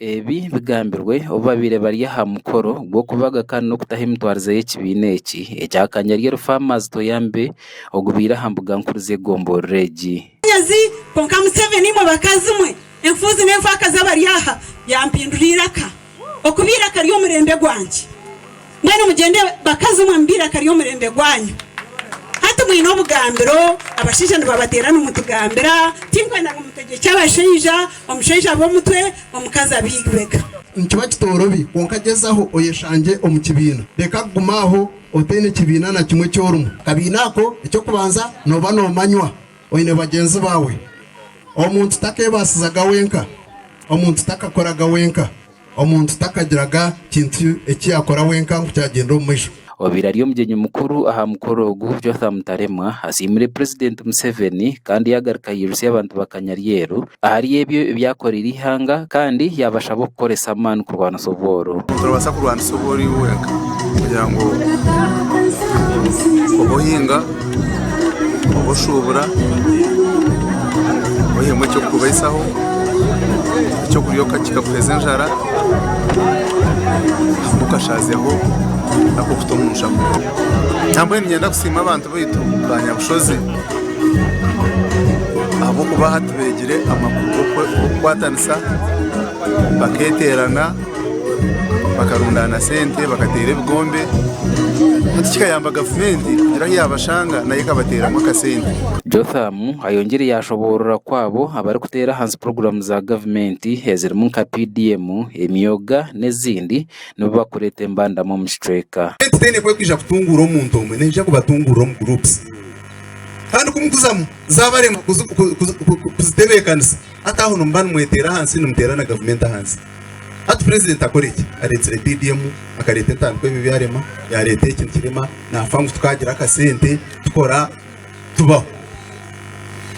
Ebi bigambirwe obu babaire bari aha mukoro gw'okubaga kandi n'okutaho emitwarize y'ekibiina eki ekya Kanyaryeru Farmers Toyambe ogubaire aha mbuga nkuru z'egomborora egi. Okubaire akari omurembe gwangye. Mbwenu mugyende bakazi mwe mubaire akari omurembe gwanyu. Hati mwine obugambiro, abashaija nibabateera nimutugambira, tinkwenda ngu mutegyekye abashaija, omushaija abe omutwe, omukazi abe eibega. Nikiba kitorobi, kwonka gyezaho oyeshangye omu kibiina. Reka kuguma aho otaine kibiina na kimwe eki orimu. Akabiina ako, eky'okubanza nooba noomanywa, Oine bagyenzi baawe. Omuntu takeebaasizaga wenka. Omuntu takakoraga wenka. Omuntu takagiraga kintu eki yaakora wenka ngu kyagyenda omu maisho. Obaire ari omugyenyi mukuru aha mukoro ogu, Jotham Taremwa asiimire Purezidenti Museveni kandi yaagaruka yairutsya abantu ba Kanyaryeru ahari ebyo ebi yaakoreire eihanga kandi yaabashaba okukoresa amaani kurwanisa obworo. Noobaasa kurwanisa obworo iwe wenka kugira ngu obe ohinga, obe oshuubura, oihemu eky'okubaisaho, eky'okurya kikakuhweza enjara hamwe okashaazeho n'akokuta omu nshako. Nambwenu niinyenda kusiima abantu baitu baanyabushozi. ahabw'okuba hati beegire amakuru g'okukwatanisa bakeeterana bakarundaana sente bakateera ebigombe hati kikayamba gavumenti kugira ahu yaabashanga nayo ekabateeramu akasente Jothamu ayongyire yaashoboorora ku abo abarikuteera ahansi puroguraamu za gavumenti ezirimu nka PDM, emyooga n'ezindi nibo barikureeta embandama omu kicweka. Gavumenti teine ku erikwija kutunguura omuntu omwe, neija kubatunguura omu guruupusi. Kandi ku mukuzamu zaabarema kuzitebeekanisa, hati aho nimuba nimweteera ahansi, nimuteera na gavumenti ahansi. Hati purezidenti akore ki? Areetsire biidi emwe, akareeta etaano ku ebyo ebi arema, yaareeta eki nikirema, naafa ngu tukaagira akasente, tukora, tubaho.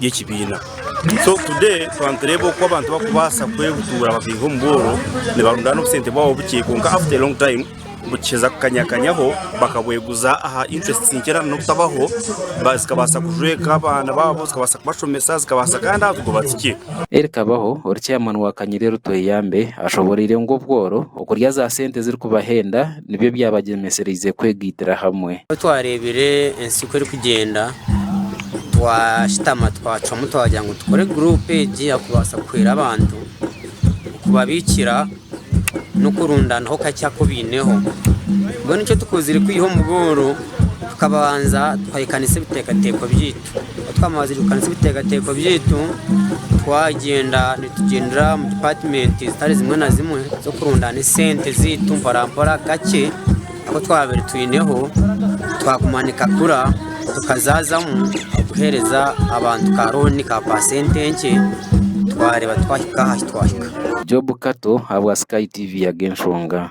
by'ekibiina so today twanitureeba oku abantu bakubaasa kwebutuura bakaiha omu bworo nibarundaana obusente bwabo bukye kwonka after a long time bukiheza kukanyakanyaho bakabweguza aha interests nkye na n'okutabaho ba- zikabaasa kujweka abaana baabo zikabaasa kubashomesa zikabaasa kandi aha kugoba tikye Erikabaho, ori chairman wa Kanyiri Rutweyambe ashoboreire ngu obworo okurya za sente ezirikubahenda nibyo byabagyemesereize kwegaitira hamwe. Ku twareebire ensi ku erikugyenda, twashutama twacwamu twagira ngu tukore guruupu egi yakubaasa kuhwera abantu, kubabiikira n'okurundaanaho kakye aku baineho. Mbwenu eki tukozire kwiha omugooro, tukabanza tukahikanisa ebiteekateeko byaitu. Ku twamazirikaniza ebiteekateeko byaitu, twagyenda nitugyendera omu dipaatimenti zitari zimwe na zimwe z'okurundaana esente zaitu mporampora kakye aku twabaire twineho, twaguma nikakura tukazaazamu kuheereza abantu ka rooni ka paasenti enkye twareeba twahika aha ahu twahika. Job Kato ahabwa Sky TV yaga enshonga.